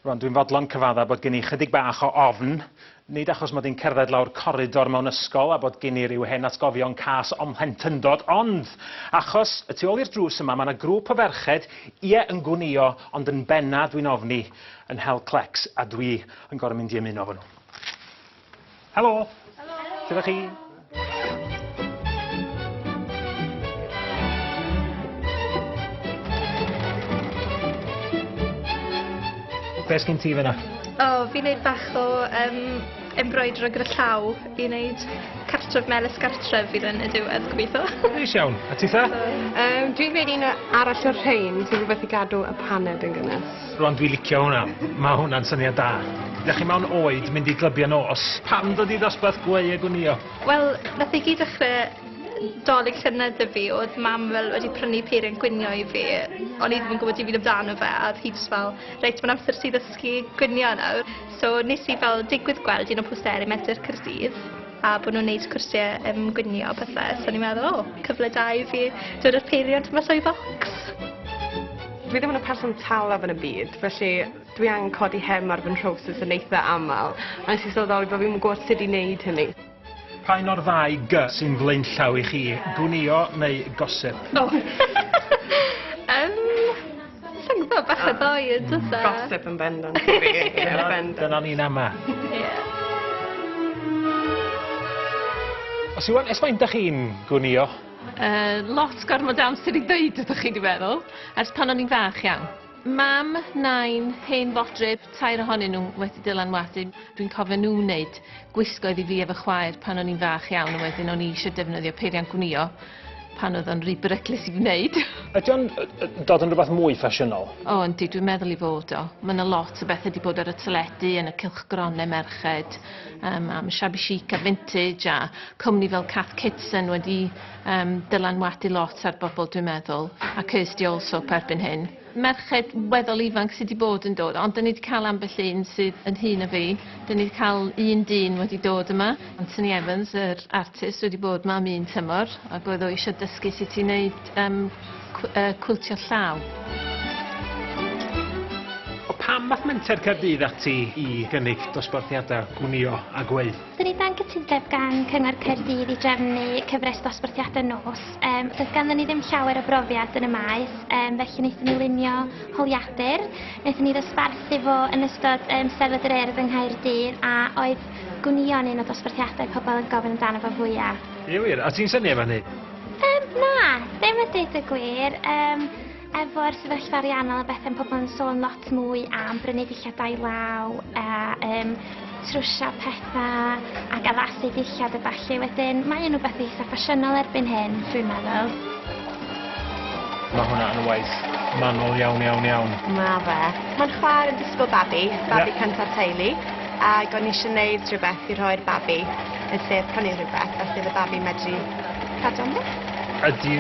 Rwan, dwi'n fodlon cyfadda bod gen i chydig bach o ofn, nid achos mod i'n cerdded lawr coridor mewn ysgol a bod gen i ryw hen atgofion cas o'm mhlentyndod, ond achos y tu ôl i'r drws yma mae yna grŵp o ferched, ie, yn gwnïo, ond yn benna, dwi'n ofni, yn hel clecs, a dwi yn gorfod mynd i ymuno efo nhw. Helo! Helo! Gyda chi. Be' sgin ti fyn 'na? O fi'n neud bach o yym embroidro gyda llaw i neud cartref melys gartref fydd yn y diwedd gobeithio. Neis iawn. A ti 'tha? Yym dwi'n gwneud un arall o'r rhein, so rhywbeth i gadw y paned yn gynnes. Rwan dwi licio hwnna. Ma hwnna'n syniad da. Dach chi mewn oed mynd i glybiau nos? Pam dod i ddosbarth gweu a gwnïo? Wel, nath e gyd ddechre 'Dolig llynedd 'da fi o'dd mam fel wedi prynu peiriant gwnïo i fi o'n i ddim yn gwbod dim byd amdano fe a o'dd hi jyst fel reit ma'n amser i ti ddysgu gwnïo nawr so nes i fel digwydd gweld un o posteri Menter Caerdydd a bo' nw'n neud cwrsie yym gwnïo a pethe so o'n i'n meddwl o cyfle da i fi dod â'r peiriant mas o'i focs. Dwi ddim yn y person talaf yn y byd felly dwi angen codi hem ar fy nhrowsus yn eitha amal a nes i sylweddoli bo' fi'm yn gw'od sud i neud hynny. Pa un o'r ddau G sy'n flaenllaw i chi, gwnïo neu gosip? O! Yym, sa i'n gwbo, bach o ddou yn do's e? Gosip yn bendant i fi. Ie bendant. Dyna ni'n ama. Ie. Os yw o'n, ers faint 'dach chi'n gwnïo? Uh, lot gormod o amser i ddeud ydych chi wedi meddwl, ers pan o'n i'n fach iawn. Mam, nain, hen fodryb, tair ohonyn nhw wedi dylanwadu. Dwi'n cofio nhw wneud gwisgoedd i fi efo chwaer pan o'n i'n fach iawn, a wedyn o'n i eisiau defnyddio peiriant gwnio pan oedd o'n rhy beryglus i wneud. Ydy o'n dod yn rhywbeth mwy ffasiynol? O, yndi, dwi'n meddwl i fod o. Mae yna lot o bethau wedi bod ar y teledu, yn y cylchgronau merched, um, am shabby chic a vintage a cwmni fel Cath Kitson wedi um, dylanwadu lot ar bobl dwi'n meddwl a Kirsty also perbyn hyn. Merched weddol ifanc sydd wedi bod yn dod, ond dyn ni wedi cael ambell un sydd yn hun o fi. Dyn ni wedi cael un dyn wedi dod yma, Anthony Evans, yr artist, wedi bod yma am un tymor, ac oedd o eisiau dysgu sut i wneud um, cwiltio llaw. O pam math menter Caerdydd ati i gynnig dosbarthiadau gwnio a gweu? Dyn ni dan gytundeb gan Cyngor Caerdydd i drefnu cyfres dosbarthiadau nos. Um, does ganddyn ni ddim llawer o brofiad yn y maes, um, felly wnaethon ni lunio holiadur. Wnaethon ni ddosbarthu fo yn ystod um, sefyd yr erdd yng Nghaerdydd a oedd gwnion un o dosbarthiadau pobl yn gofyn amdano fo fwyaf. Ie wir, a ti'n syni efo hynny? Um, na, ddim yn dweud y gwir. Um, efo'r sefyllfa ariannol a bethau'n pobl yn sôn lot mwy am brynu dillad law a um, trwsio pethau ac addasu dillad a falle wedyn. Mae yn rhywbeth eitha ffasiynol erbyn hyn, dwi'n meddwl. Mae hwnna yn waith manol iawn, iawn, iawn. Mae fe. Mae'n chwarae yn disgwyl babi, babi yeah. cyntaf teulu, ac o'n eisiau gwneud rhywbeth i rhoi'r babi yn lle prynu rhywbeth, felly y babi medru Cadw'n ddi? Ydy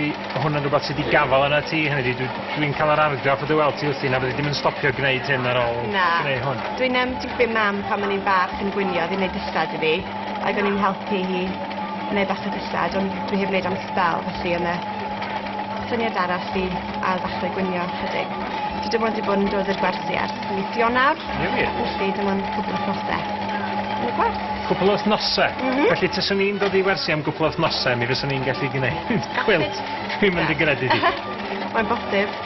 hwn yn rhywbeth sydd wedi gafael yna ti? Hynny ydy, dwi'n dwi cael yr argraff o dy weld ti wrthi na fyddi ddim yn stopio gwneud hyn ar ôl na. gwneud hwn. Dwi'n um, dwi'n gwybod mam pan o'n i'n fach yn gwynio, ddim wneud dysad i fi, ac o'n i'n helpu hi wneud bach o dysad, ond dwi heb wneud am sbel, felly yna syniad arall i ail ddechrau gwynio chydig. Dwi dim ond wedi bod yn dod i'r gwersi ers Misionar. Ie wir? Felly dim ond cwpl o nosau. Yn y gwerth. Cwpl o wythnosau? Mm -hmm. Felly tyswn ni'n dod i wersi am gwpl o wythnosau, mi fyswn ni'n gallu gwneud cwilt. Dwi'n mynd i gredu di. Mae'n bosib.